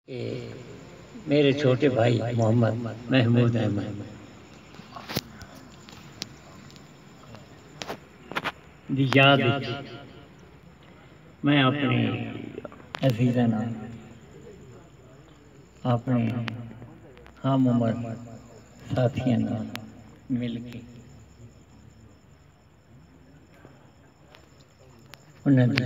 اے میݙے چھوٹے بھائی محمد محمود احمد دی یاد اچ میں اپݨے عزیزاں نال اپݨے ہم عمر ساتھیاں نال مل کے انہاں دی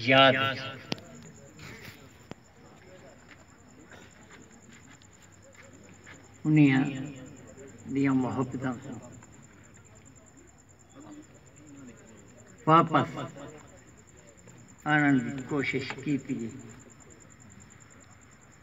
یاد اچ انہاں دیاں محبتاں کوں واپس آنڑݨ دی کوشش کیتی ڳئی۔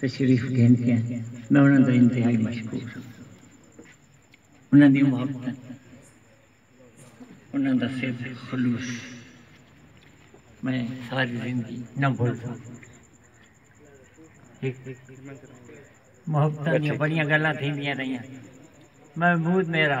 تشریف گھن کے میں انہاں دا انتہائی مشکور ہاں۔ انہاں دیاں محبتاں، انہاں دا سر دا خلوص میں ساری زندگی نہ بھل سگداں۔ محبتاں دیاں بڑیاں گالاں تھیندیاں رہیاں۔ محمود میرا۔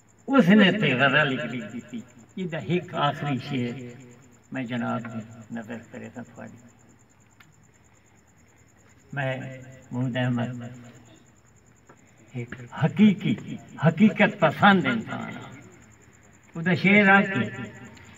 اس نے تے غزل لکھدی کیتی۔ ایدا ہک آخری شعر میں جناب دی نظر کریساں تھوڑی۔ میں محمود احمد ہک حقیقی حقیقت پسند انسان ہاں۔ اودا شعر آ کہ۔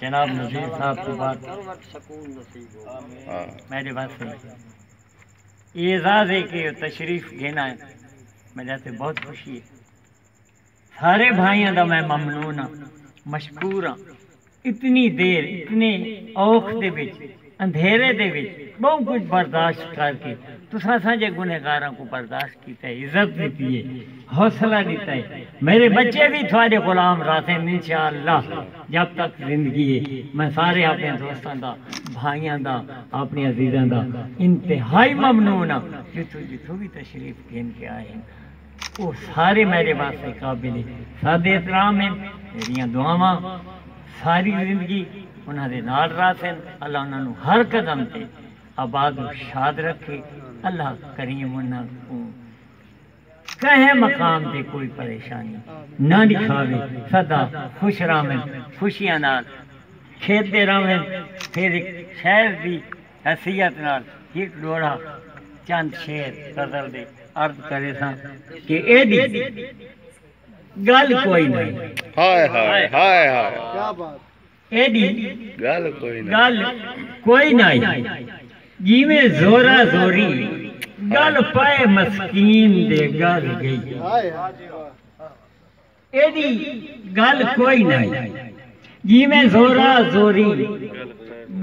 جناب مشیر صاحب توں بعد میڈے واسطے ایہ اعزاز ہے کہ تشریف گھن آئے میڈے واسطے بہت خوشی ہے سارے بھائیاں دا میں ممنون ہاں مشکور ہاں اتنی دیر اتنے اوکھ دے وچ اندھیرے دے وچ ٻہوں کجھ برداشت کر کے تساں اساںجھے گنہگاراں کوں برداشت کیتا ہے، عزت ݙتی ہے، حوصلہ ݙتا ہے۔ میݙے ٻچے وی تہاݙے غلام رہسن انشاء اللہ جب تک زندگی ہے۔ میں سارے آپݨیاں دوستاں دا، بھائیاں دا، آپݨے عزیزاں دا انتہائی ممنون ہاں جتھوں جتھوں وی تشریف گھن کے آئے ہن۔ او سارے میڈے واسطے قابل صد احترام ہن میڈیاں دعاواں ساری زندگی انہاں دے نال رہسن اللہ انہاں نوں ہر قدم تے آباد و شاد رکھے اللہ کریم انہاں کوں کہیں مقام تے کوئی پریشانی نہ ڈکھاوے سدا خوش رہون خوشیاں نال کھیڈدے رہون پھر ہک شہر دی حیثیت نال ہک ڈوہڑا چند شعر غزل دے عرض کریساں کہ ایڈی گل کوئی نئیں۔ ہائے ہائے ہائے ہائے ایڈی گل کوئی نئیں جیویں زورا زوری گل پئے مسکین دے گل گئی۔ ایڈی گل کوئی نائی جیویں زورا زوریں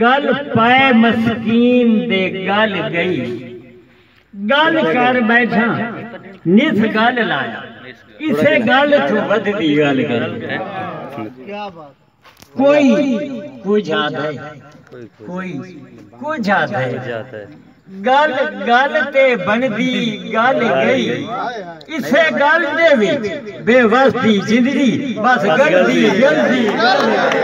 گل پائے مسکین دے گل گئی گل کر بیٹھاں نس گل لایا اسے گل توں ودھدی گل گئی۔ کوئی کجھ آدھے کوئی کجھ آدھے گل گل تے بنڑدی گل گئی اسے گل دے وچ بے وس دی زندگی بس گلدی گلدی گل گئی۔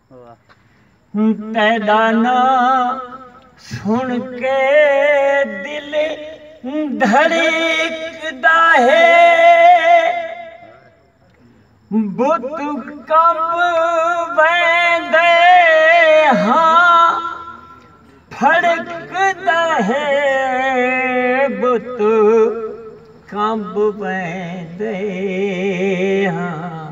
تیݙا ناں سݨ کے دل دھڑکدا ہے بت کمب ویندے ہاں پھڑکدا ہے بت کمب ویندے ہاں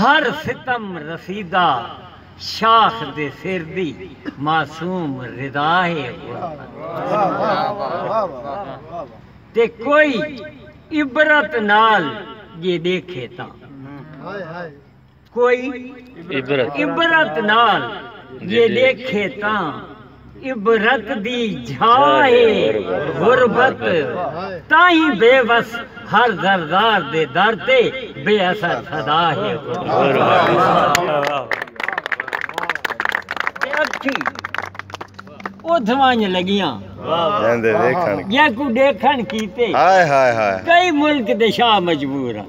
ہر ستم رسیدہ شاخ دے سر دی معصوم ردا ہے غربت تے کوئی عبرت نال جے ڈیکھے تاں کوئی عبرت نال جے ڈیکھے تاں۔ عبرت دی جھا ہے غربت تاہیں بے وس ہر زردار دے در تے بے اثر صدا ہے غربت۔ اکھیں اتھ ونج لگیاں جیکوں ڈیکھن کیتے کئی ملک دے شاہ مجبور ہن۔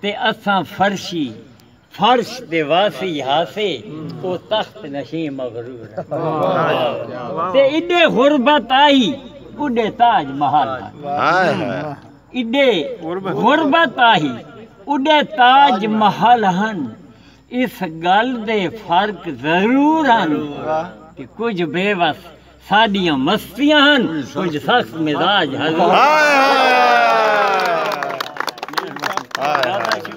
تے اساں فرشی، فرش، دے واسی ہاسے او تخت نشیں مغرور ہن تے ایݙے غربت آہی اݙے تاج محل ہن ایݙے غربت آہی اݙے تاج محل ہن اس ڳل دے فرق ضرور ہن کہ کجھ بے وس ساݙیاں مستیاں ہن کجھ سخت مزاج ہن۔